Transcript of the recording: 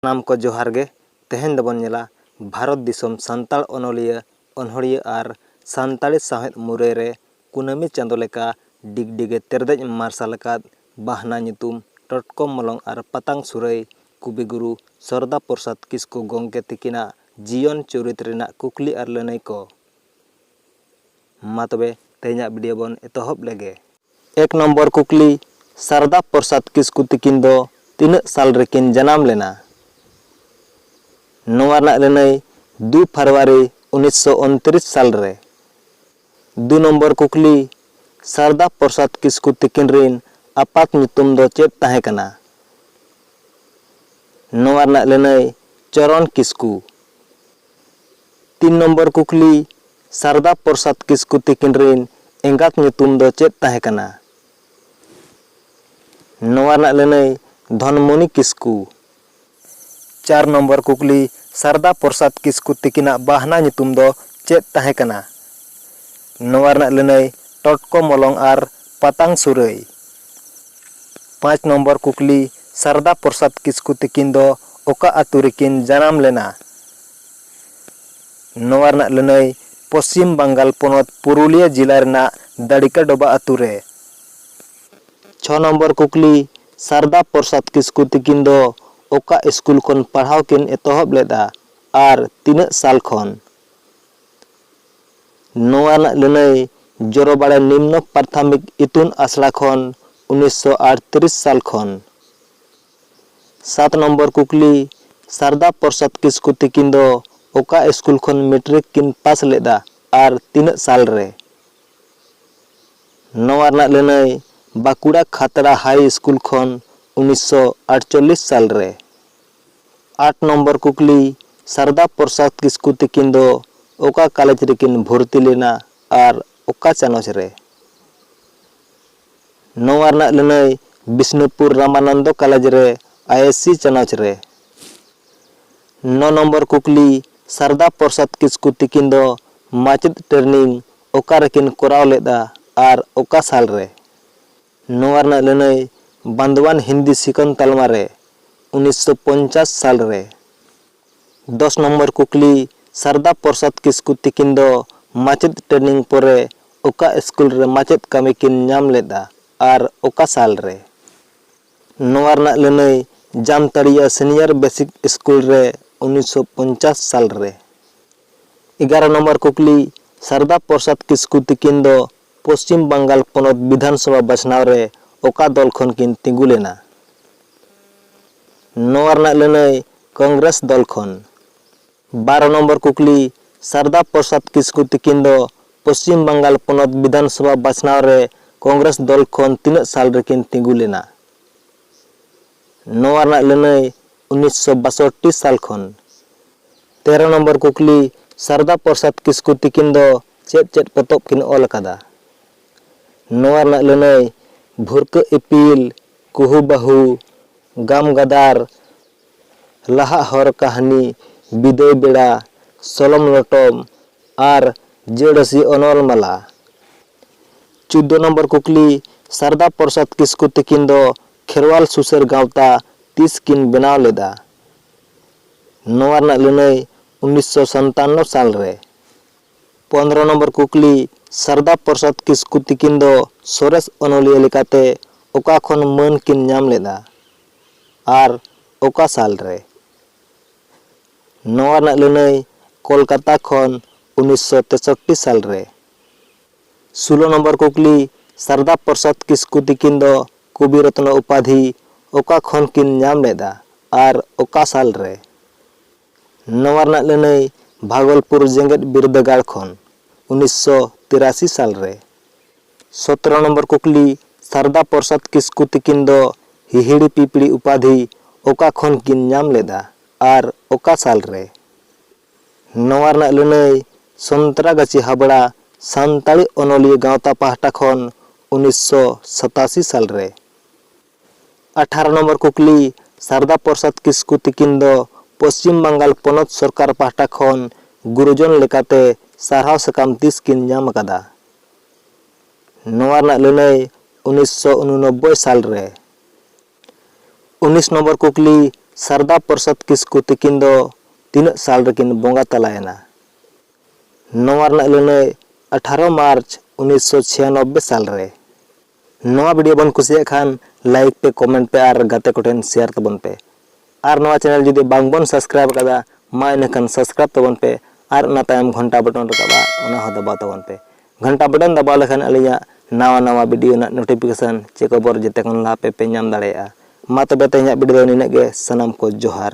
ᱥᱟᱱᱟᱢ ᱠᱚ ᱡᱚᱦᱟᱨ ᱜᱮ, ᱛᱮᱦᱮᱧ ᱫᱚ ᱵᱚᱱ ᱧᱮᱞᱟ ᱵᱷᱟᱨᱚᱛ ᱫᱤᱥᱚᱢ ᱥᱟᱱᱛᱟᱲ ᱚᱱᱚᱞᱤᱭᱟᱹ, ᱚᱱᱚᱬᱦᱤᱭᱟᱹ ᱟᱨ ᱥᱟᱱᱛᱟᱲᱤ ᱥᱟᱶᱦᱮᱫ ᱢᱩᱨᱟᱹᱭ ᱨᱮ ᱠᱩᱱᱟᱹᱢᱤ ᱪᱟᱸᱫᱚ ᱞᱮᱠᱟ ᱰᱤᱜᱽᱰᱤᱜᱮ ᱛᱮᱨᱫᱮᱡ ᱢᱟᱨᱥᱟᱞ ᱟᱠᱟᱫ ᱵᱟᱦᱱᱟ ᱧᱩᱛᱩᱢ ᱴᱚᱴᱠᱚ ᱢᱚᱞᱚᱝ ᱟᱨ ᱯᱟᱛᱟᱝ ᱥᱩᱨᱟᱹᱭ ᱠᱚᱵᱤᱜᱩᱨᱩ ᱥᱚᱨᱫᱟ ᱯᱨᱚᱥᱟᱫᱽ ᱠᱤᱥᱠᱩ ᱜᱚᱝᱠᱮ ᱛᱤᱠᱤᱱᱟᱜ ᱡᱤᱭᱚᱱ ᱪᱩᱨᱤᱛ ᱨᱮᱱᱟᱜ ᱠᱩᱠᱞᱤ ᱟᱨ ᱞᱟᱹᱱᱟᱹᱭ ᱠᱚ᱾ ᱢᱟ ᱛᱚᱵᱮ ᱛᱮᱦᱮᱧᱟᱜ ᱵᱤᱰᱤᱭᱳ ᱵᱚᱱ ᱮᱛᱚᱦᱚᱵ ᱞᱮᱜᱮ᱾ ᱮᱠ ᱱᱚᱢᱵᱚᱨ ᱠᱩᱠᱞᱤ, ᱥᱟᱨᱚᱫᱟ ᱯᱨᱚᱥᱟᱫᱽ ᱠᱤᱥᱠᱩ ᱛᱤᱠᱤᱱ ᱫᱚ ᱛᱤᱱᱟᱹᱜ ᱥᱟᱞ ᱨᱮᱠᱤᱱ ᱡᱟᱱᱟᱢ ᱞᱮᱱᱟ? ᱱᱚᱣᱟ ᱨᱮᱱᱟᱜ ᱞᱟᱹᱱᱟᱹᱭ ᱫᱩ ᱯᱷᱟᱨᱣᱟᱨᱤ ᱩᱱᱤᱥ ᱥᱚ ᱩᱱᱛᱨᱤᱥ ᱥᱟᱞ ᱨᱮ᱾ ᱫᱩ ᱱᱚᱢᱵᱚᱨ ᱠᱩᱠᱞᱤ, ᱥᱟᱨᱚᱫᱟ ᱯᱨᱚᱥᱟᱫᱽ ᱠᱤᱥᱠᱩ ᱛᱤᱠᱤᱱ ᱨᱤᱱ ᱟᱯᱟᱛ ᱧᱩᱛᱩᱢ ᱫᱚ ᱪᱮᱫ ᱛᱟᱦᱮᱸ ᱠᱟᱱᱟ? ᱱᱚᱣᱟ ᱨᱮᱱᱟᱜ ᱞᱟᱹᱱᱟᱹᱭ ᱪᱚᱨᱚᱱ ᱠᱤᱥᱠᱩ᱾ ᱛᱤᱱ ᱱᱚᱢᱵᱚᱨ ᱠᱩᱠᱞᱤ, ᱥᱟᱨᱚᱫᱟ ᱯᱨᱚᱥᱟᱫᱽ ᱠᱤᱥᱠᱩ ᱛᱤᱠᱤᱱ ᱨᱤᱱ ᱮᱸᱜᱟᱛ ᱧᱩᱛᱩᱢ ᱫᱚ ᱪᱮᱫ ᱛᱟᱦᱮᱸ ᱠᱟᱱᱟ? ᱱᱚᱣᱟ ᱨᱮᱱᱟᱜ ᱞᱟᱹᱱᱟᱹᱭ, ᱫᱷᱚᱱᱢᱚᱱᱤ ᱠᱤᱥᱠᱩ᱾ ᱪᱟᱨ ᱱᱚᱢᱵᱚᱨ ᱠᱩᱠᱞᱤ, ᱥᱟᱨᱚᱫᱟ ᱯᱨᱚᱥᱟᱫᱽ ᱠᱤᱥᱠᱩ ᱛᱤᱠᱤᱱᱟᱜ ᱵᱟᱦᱱᱟ ᱧᱩᱛᱩᱢ ᱫᱚ ᱪᱮᱫ ᱛᱟᱦᱮᱸ ᱠᱟᱱᱟ? ᱱᱚᱣᱟ ᱨᱮᱱᱟᱜ ᱞᱟᱹᱱᱟᱹᱭ, ᱴᱚᱴᱠᱚ ᱢᱚᱞᱚᱝ ᱟᱨ ᱯᱟᱛᱟᱝ ᱥᱩᱨᱟᱹᱭ᱾ ᱯᱟᱸᱪ ᱱᱚᱢᱵᱚᱨ ᱠᱩᱠᱞᱤ, ᱥᱟᱨᱚᱫᱟ ᱯᱨᱚᱥᱟᱫᱽ ᱠᱤᱥᱠᱩ ᱛᱤᱠᱤᱱ ᱫᱚ ᱚᱠᱟ ᱟᱹᱛᱩ ᱨᱮᱠᱤᱱ ᱡᱟᱱᱟᱢ ᱞᱮᱱᱟ? ᱱᱚᱣᱟ ᱨᱮᱱᱟᱜ ᱞᱟᱹᱱᱟᱹᱭ, ᱯᱚᱪᱷᱤᱢ ᱵᱟᱝᱜᱟᱞ ᱯᱚᱱᱚᱛ ᱯᱩᱨᱩᱞᱤᱭᱟᱹ ᱡᱤᱞᱟ ᱨᱮᱱᱟᱜ ᱫᱟᱲᱤᱠᱟ ᱰᱚᱵᱟ ᱟᱹᱛᱩ ᱨᱮ᱾ ᱪᱷᱚ ᱱᱚᱢᱵᱚᱨ ᱠᱩᱠᱞᱤ, ᱥᱟᱨᱚᱫᱟ ᱯᱨᱚᱥᱟᱫᱽ ᱠᱤᱥᱠᱩ ᱛᱤᱠᱤᱱ ᱫᱚ ᱚᱠᱟ ᱤᱥᱠᱩᱞ ᱠᱷᱚᱱ ᱯᱟᱲᱦᱟᱣ ᱠᱤᱱ ᱮᱛᱚᱦᱚᱵ ᱞᱮᱫᱼᱟ ᱟᱨ ᱛᱤᱱᱟᱹᱜ ᱥᱟᱞ ᱠᱷᱚᱱ? ᱱᱚᱣᱟ ᱨᱮᱱᱟᱜ ᱞᱟᱹᱱᱟᱹᱭ ᱡᱚᱨᱚᱵᱟᱲᱮ ᱱᱤᱢᱱᱚ ᱯᱨᱟᱛᱷᱟᱢᱤᱠ ᱤᱛᱩᱱ ᱟᱥᱲᱟ ᱠᱷᱚᱱ ᱩᱱᱤᱥ ᱥᱚ ᱟᱴᱛᱨᱤᱥ ᱥᱟᱞ ᱠᱷᱚᱱ᱾ ᱥᱟᱛ ᱱᱚᱢᱵᱚᱨ ᱠᱩᱠᱞᱤ, ᱥᱟᱨᱫᱟ ᱯᱨᱚᱥᱟᱫᱽ ᱠᱤᱥᱠᱩ ᱛᱤᱠᱤᱱ ᱫᱚ ᱚᱠᱟ ᱤᱥᱠᱩᱞ ᱠᱷᱚᱱ ᱢᱮᱴᱨᱤᱠ ᱠᱤᱱ ᱯᱟᱥ ᱞᱮᱫᱼᱟ ᱟᱨ ᱛᱤᱱᱟᱹᱜ ᱥᱟᱞ ᱨᱮ? ᱱᱚᱣᱟ ᱨᱮᱱᱟᱜ ᱞᱟᱹᱱᱟᱹᱭ ᱵᱟᱸᱠᱩᱲᱟ ᱠᱷᱟᱛᱲᱟ ᱦᱟᱭ ᱤᱥᱠᱩᱞ ᱠᱷᱚᱱ ᱩᱱᱤᱥ ᱥᱚ ᱟᱴᱪᱚᱞᱞᱤᱥ ᱥᱟᱞ ᱨᱮ᱾ ᱟᱴ ᱱᱚᱢᱵᱚᱨ ᱠᱩᱠᱞᱤ, ᱥᱟᱨᱚᱫᱟ ᱯᱨᱚᱥᱟᱫᱽ ᱠᱤᱥᱠᱩ ᱛᱤᱠᱤᱱ ᱫᱚ ᱚᱠᱟ ᱠᱟᱞᱮᱡᱽ ᱨᱮᱠᱤᱱ ᱵᱷᱚᱨᱛᱤ ᱞᱮᱱᱟ ᱟᱨ ᱚᱠᱟ ᱪᱟᱱᱚᱪ ᱨᱮ? ᱱᱚᱣᱟ ᱨᱮᱱᱟᱜ ᱞᱟᱹᱱᱟᱹᱭ ᱵᱤᱥᱱᱩᱯᱩᱨ ᱨᱟᱢᱟᱱᱚᱱᱫᱚ ᱠᱟᱞᱮᱡᱽ ᱨᱮ ᱟᱭᱮᱥᱤ ᱪᱟᱱᱚᱪ ᱨᱮ᱾ ᱱᱚ ᱱᱚᱢᱵᱚᱨ ᱠᱩᱠᱞᱤ, ᱥᱟᱨᱚᱫᱟ ᱯᱨᱚᱥᱟᱫᱽ ᱠᱤᱥᱠᱩ ᱛᱤᱠᱤᱱ ᱫᱚ ᱢᱟᱪᱮᱛ ᱴᱨᱮᱱᱤᱝ ᱚᱠᱟ ᱨᱮᱠᱤᱱ ᱠᱚᱨᱟᱣ ᱞᱮᱫᱼᱟ ᱟᱨ ᱚᱠᱟ ᱥᱟᱞ ᱨᱮ? ᱱᱚᱣᱟ ᱨᱮᱱᱟᱜ ᱞᱟᱹᱱᱟᱹᱭ ᱵᱟᱸᱫᱽᱣᱟᱱ ᱦᱤᱱᱫᱤ ᱥᱤᱠᱷᱚᱱ ᱛᱟᱞᱢᱟ ᱨᱮ ᱩᱱᱤᱥ ᱥᱚ ᱯᱚᱧᱪᱟᱥ ᱥᱟᱞ ᱨᱮ᱾ ᱫᱚᱥ ᱱᱚᱢᱵᱚᱨ ᱠᱩᱠᱞᱤ, ᱥᱟᱨᱫᱟ ᱯᱨᱚᱥᱟᱫᱽ ᱠᱤᱥᱠᱩ ᱛᱤᱠᱤᱱ ᱫᱚ ᱢᱟᱪᱮᱛ ᱴᱨᱮᱱᱤᱝ ᱯᱚᱨᱮ ᱚᱠᱟ ᱥᱠᱩᱞ ᱨᱮ ᱢᱟᱪᱮᱛ ᱠᱟᱹᱢᱤ ᱠᱤᱱ ᱧᱟᱢ ᱞᱮᱫᱼᱟ ᱟᱨ ᱚᱠᱟ ᱥᱟᱞ ᱨᱮ? ᱱᱚᱣᱟ ᱨᱮᱱᱟᱜ ᱞᱟᱹᱱᱟᱹᱭ ᱡᱟᱢᱛᱟᱲᱤᱭᱟ ᱥᱤᱱᱤᱭᱚᱨ ᱵᱮᱥᱤᱠ ᱥᱠᱩᱞ ᱨᱮ ᱩᱱᱤᱥ ᱥᱚ ᱯᱚᱧᱪᱟᱥ ᱥᱟᱞ ᱨᱮ᱾ ᱮᱜᱟᱨᱚ ᱱᱚᱢᱵᱚᱨ ᱠᱩᱠᱞᱤ, ᱥᱟᱨᱫᱟ ᱯᱨᱚᱥᱟᱫᱽ ᱠᱤᱥᱠᱩ ᱛᱤᱠᱤᱱ ᱫᱚ ᱯᱚᱪᱷᱤᱢ ᱵᱟᱝᱜᱟᱞ ᱯᱚᱱᱚᱛ ᱵᱤᱫᱷᱟᱱᱥᱚᱵᱷᱟ ᱵᱟᱪᱷᱱᱟᱣ ᱨᱮ ᱚᱠᱟ ᱫᱚᱞ ᱠᱷᱚᱱ ᱠᱤᱱ ᱛᱤᱸᱜᱩ ᱞᱮᱱᱟ? ᱱᱚᱣᱟ ᱨᱮᱱᱟᱜ ᱞᱟᱹᱱᱟᱹᱭ ᱠᱚᱝᱜᱽᱨᱮᱥ ᱫᱚᱞ ᱠᱷᱚᱱ᱾ ᱵᱟᱨᱚ ᱱᱚᱢᱵᱚᱨ ᱠᱩᱠᱞᱤ, ᱥᱟᱨᱫᱟ ᱯᱨᱚᱥᱟᱫᱽ ᱠᱤᱥᱠᱩ ᱛᱤᱠᱤᱱ ᱫᱚ ᱯᱚᱪᱷᱤᱢ ᱵᱟᱝᱜᱟᱞ ᱯᱚᱱᱚᱛ ᱵᱤᱫᱷᱟᱱᱥᱚᱵᱷᱟ ᱵᱟᱪᱷᱱᱟᱣ ᱨᱮ ᱠᱚᱝᱜᱽᱨᱮᱥ ᱫᱚᱞ ᱠᱷᱚᱱ ᱛᱤᱱᱟᱹᱜ ᱥᱟᱞ ᱨᱮᱠᱤᱱ ᱛᱤᱸᱜᱩ ᱞᱮᱱᱟ? ᱱᱚᱣᱟ ᱨᱮᱱᱟᱜ ᱞᱟᱹᱱᱟᱹᱭ ᱩᱱᱤᱥᱥᱚ ᱵᱟᱥᱚᱴᱴᱤ ᱥᱟᱞ ᱠᱷᱚᱱ᱾ ᱛᱮᱨᱚ ᱱᱚᱢᱵᱚᱨ ᱠᱩᱠᱞᱤ, ᱥᱟᱨᱚᱫᱟ ᱯᱨᱚᱥᱟᱫᱽ ᱠᱤᱥᱠᱩ ᱛᱤᱠᱤᱱ ᱫᱚ ᱪᱮᱫ ᱪᱮᱫ ᱯᱚᱛᱚᱵ ᱠᱤᱱ ᱚᱞ ᱟᱠᱟᱫᱟ? ᱱᱚᱣᱟ ᱨᱮᱱᱟᱜ ᱞᱟᱹᱱᱟᱹᱭ ᱵᱷᱩᱨᱠᱟᱹᱜ ᱤᱯᱤᱞ, ᱠᱩᱦᱩ ᱵᱟᱦᱩ, ᱜᱟᱢ ᱜᱟᱫᱟᱨ, ᱞᱟᱦᱟᱜ ᱦᱚᱨ ᱠᱟᱹᱦᱱᱤ, ᱵᱤᱫᱟᱹᱭ ᱵᱮᱲᱟ, ᱥᱚᱞᱚᱢ ᱞᱚᱴᱚᱢ ᱟᱨ ᱡᱟᱹᱲᱟᱹᱥᱤ ᱚᱱᱚᱞ ᱢᱟᱞᱟ᱾ ᱪᱩᱫᱫᱚ ᱱᱚᱢᱵᱚᱨ ᱠᱩᱠᱞᱤ, ᱥᱟᱨᱚᱫᱟ ᱯᱨᱚᱥᱟᱫᱽ ᱠᱤᱥᱠᱩ ᱛᱤᱠᱤᱱ ᱫᱚ ᱠᱷᱮᱨᱣᱟᱞ ᱥᱩᱥᱟᱹᱨ ᱜᱟᱶᱛᱟ ᱛᱤᱥ ᱠᱤᱱ ᱵᱮᱱᱟᱣ ᱞᱮᱫᱼᱟ? ᱱᱚᱣᱟ ᱨᱮᱱᱟᱜ ᱞᱟᱹᱱᱟᱹᱭ ᱩᱱᱤᱥ ᱥᱚ ᱥᱟᱱᱛᱟᱱᱱᱚ ᱥᱟᱞ ᱨᱮ᱾ ᱯᱚᱱᱫᱽᱨᱚ ᱱᱚᱢᱵᱚᱨ ᱠᱩᱠᱞᱤ, ᱥᱟᱨᱫᱟ ᱯᱨᱚᱥᱟᱫᱽ ᱠᱤᱥᱠᱩ ᱛᱤᱠᱤᱱ ᱫᱚ ᱥᱚᱨᱮᱥ ᱚᱱᱚᱞᱤᱭᱟᱹ ᱞᱮᱠᱟᱛᱮ ᱚᱠᱟ ᱠᱷᱚᱱ ᱢᱟᱹᱱ ᱠᱤᱱ ᱧᱟᱢ ᱞᱮᱫᱼᱟ ᱟᱨ ᱚᱠᱟ ᱥᱟᱞ ᱨᱮ? ᱱᱚᱣᱟ ᱨᱮᱱᱟᱜ ᱞᱟᱹᱱᱟᱹᱭ ᱠᱚᱞᱠᱟᱛᱟ ᱠᱷᱚᱱ ᱩᱱᱤᱥ ᱥᱚ ᱛᱮᱥᱚᱴᱴᱤ ᱥᱟᱞ ᱨᱮ᱾ ᱥᱩᱞᱚ ᱱᱚᱢᱵᱚᱨ ᱠᱩᱠᱞᱤ, ᱥᱟᱨᱚᱫᱟ ᱯᱨᱚᱥᱟᱫᱽ ᱠᱤᱥᱠᱩ ᱛᱤᱠᱤᱱ ᱫᱚ ᱠᱚᱵᱤ ᱨᱚᱛᱱᱚ ᱩᱯᱟᱫᱷᱤ ᱚᱠᱟ ᱠᱷᱚᱱ ᱠᱤᱱ ᱧᱟᱢ ᱞᱮᱫᱼᱟ ᱟᱨ ᱚᱠᱟ ᱥᱟᱞ ᱨᱮ? ᱱᱚᱣᱟ ᱨᱮᱱᱟᱜ ᱞᱟᱹᱱᱟᱹᱭ ᱵᱷᱟᱜᱚᱞᱯᱩᱨ ᱡᱮᱜᱮᱛ ᱵᱤᱨᱫᱟᱹᱜᱟᱲ ᱠᱷᱚᱱ, ᱩᱱᱤᱥ ᱥᱚ ᱛᱤᱨᱟᱥᱤ ᱥᱟᱞ ᱨᱮ᱾ ᱥᱚᱛᱨᱚ ᱱᱚᱢᱵᱚᱨ ᱠᱩᱠᱞᱤ, ᱥᱟᱨᱚᱫᱟ ᱯᱨᱚᱥᱟᱫᱽ ᱠᱤᱥᱠᱩ ᱛᱤᱠᱤᱱ ᱫᱚ ᱦᱤᱦᱤᱲᱤ ᱯᱤᱯᱤᱲᱤ ᱩᱯᱟᱫᱷᱤ ᱚᱠᱟ ᱠᱷᱚᱱ ᱠᱤᱱ ᱧᱟᱢ ᱞᱮᱫᱼᱟ ᱟᱨ ᱚᱠᱟ ᱥᱟᱞ ᱨᱮ? ᱱᱚᱣᱟ ᱨᱮᱱᱟᱜ ᱞᱟᱹᱱᱟᱹᱭ ᱥᱚᱱᱛᱨᱟᱜᱟᱪᱷᱤ ᱦᱟᱵᱽᱲᱟ ᱥᱟᱱᱛᱟᱲᱤ ᱚᱱᱚᱞᱤᱭᱟᱹ ᱜᱟᱶᱛᱟ ᱯᱟᱦᱴᱟ ᱠᱷᱚᱱ ᱩᱱᱤᱥ ᱥᱚ ᱥᱟᱛᱟᱥᱤ ᱥᱟᱞ ᱨᱮ᱾ ᱟᱴᱷᱟᱨᱚ ᱱᱚᱢᱵᱚᱨ ᱠᱩᱠᱞᱤ, ᱥᱟᱨᱫᱟ ᱯᱨᱚᱥᱟᱫᱽ ᱠᱤᱥᱠᱩ ᱛᱤᱠᱤᱱ ᱫᱚ ᱯᱚᱪᱷᱤᱢ ᱵᱟᱝᱜᱟᱞ ᱯᱚᱱᱚᱛ ᱥᱚᱨᱠᱟᱨ ᱯᱟᱦᱴᱟ ᱠᱷᱚᱱ ᱜᱩᱨᱩᱡᱚᱱ ᱞᱮᱠᱟᱛᱮ ᱥᱟᱨᱦᱟᱣ ᱥᱟᱠᱟᱢ ᱛᱤᱥ ᱠᱤᱱ ᱧᱟᱢ ᱟᱠᱟᱫᱟ? ᱱᱚᱣᱟ ᱨᱮᱱᱟᱜ ᱞᱟᱹᱱᱟᱹᱭ ᱩᱱᱤᱥ ᱥᱚ ᱩᱱᱩᱱᱚᱵᱵᱚᱭ ᱥᱟᱞ ᱨᱮ᱾ ᱩᱱᱤᱥ ᱱᱚᱢᱵᱚᱨ ᱠᱩᱠᱞᱤ, ᱥᱟᱨᱫᱟ ᱯᱨᱚᱥᱟᱫᱽ ᱠᱤᱥᱠᱩ ᱛᱤᱠᱤᱱ ᱫᱚ ᱛᱤᱱᱟᱹᱜ ᱥᱟᱞ ᱨᱮᱠᱤᱱ ᱵᱚᱸᱜᱟ ᱛᱟᱞᱟ ᱮᱱᱟ? ᱱᱚᱣᱟ ᱨᱮᱱᱟᱜ ᱞᱟᱹᱱᱟᱹᱭ, ᱟᱴᱷᱟᱨᱚ ᱢᱟᱨᱪ ᱩᱱᱤᱥ ᱥᱚ ᱪᱷᱤᱭᱟᱱᱚᱵᱵᱮ ᱥᱟᱞ ᱨᱮ᱾ ᱱᱚᱣᱟ ᱵᱷᱤᱰᱤᱭᱳ ᱵᱚᱱ ᱠᱩᱥᱤᱭᱟᱜ ᱠᱷᱟᱱ ᱞᱟᱭᱤᱠ ᱯᱮ, ᱠᱚᱢᱮᱱᱴ ᱯᱮ ᱟᱨ ᱜᱟᱛᱮ ᱠᱚᱴᱷᱮᱱ ᱥᱮᱭᱟᱨ ᱛᱟᱵᱚᱱ ᱯᱮ᱾ ᱟᱨ ᱱᱚᱣᱟ ᱪᱮᱱᱮᱞ ᱡᱩᱫᱤ ᱵᱟᱝ ᱵᱚᱱ ᱥᱟᱵᱥᱠᱨᱟᱭᱤᱵᱽ ᱟᱠᱟᱫᱟ ᱢᱟ ᱤᱱᱟᱹ ᱠᱷᱟᱱ ᱥᱟᱵᱥᱠᱨᱟᱭᱤᱵᱽ ᱛᱟᱵᱚᱱ ᱯᱮ ᱟᱨ ᱚᱱᱟ ᱛᱟᱭᱚᱢ ᱜᱷᱚᱱᱴᱟ ᱵᱚᱴᱚᱱ ᱨᱟᱠᱟᱵᱼᱟ ᱚᱱᱟ ᱦᱚᱸ ᱫᱟᱵᱟᱣ ᱛᱟᱵᱚᱱ ᱯᱮ ᱜᱷᱚᱱᱴᱟ ᱵᱚᱴᱚᱱ ᱫᱟᱵᱟᱣ ᱞᱮᱠᱷᱟᱱ ᱟᱹᱞᱤᱧᱟᱜ ᱱᱟᱣᱟ ᱱᱟᱣᱟ ᱵᱷᱤᱰᱤᱭᱳ ᱨᱮᱱᱟᱜ ᱱᱳᱴᱤᱯᱷᱤᱠᱮᱥᱚᱱ ᱪᱮ ᱠᱷᱚᱵᱚᱨ ᱡᱮᱛᱮ ᱠᱷᱚᱱ ᱞᱟᱦᱟ ᱯᱮ ᱯᱮ ᱧᱟᱢ ᱫᱟᱲᱮᱭᱟᱜᱼᱟ ᱢᱟ ᱛᱚᱵᱮ ᱛᱮᱦᱮᱧᱟᱜ ᱵᱷᱤᱰᱤᱭᱳ ᱫᱚ ᱱᱤᱱᱟᱹᱜ ᱜᱮ ᱥᱟᱱᱟᱢ ᱠᱚ ᱡᱚᱦᱟᱨ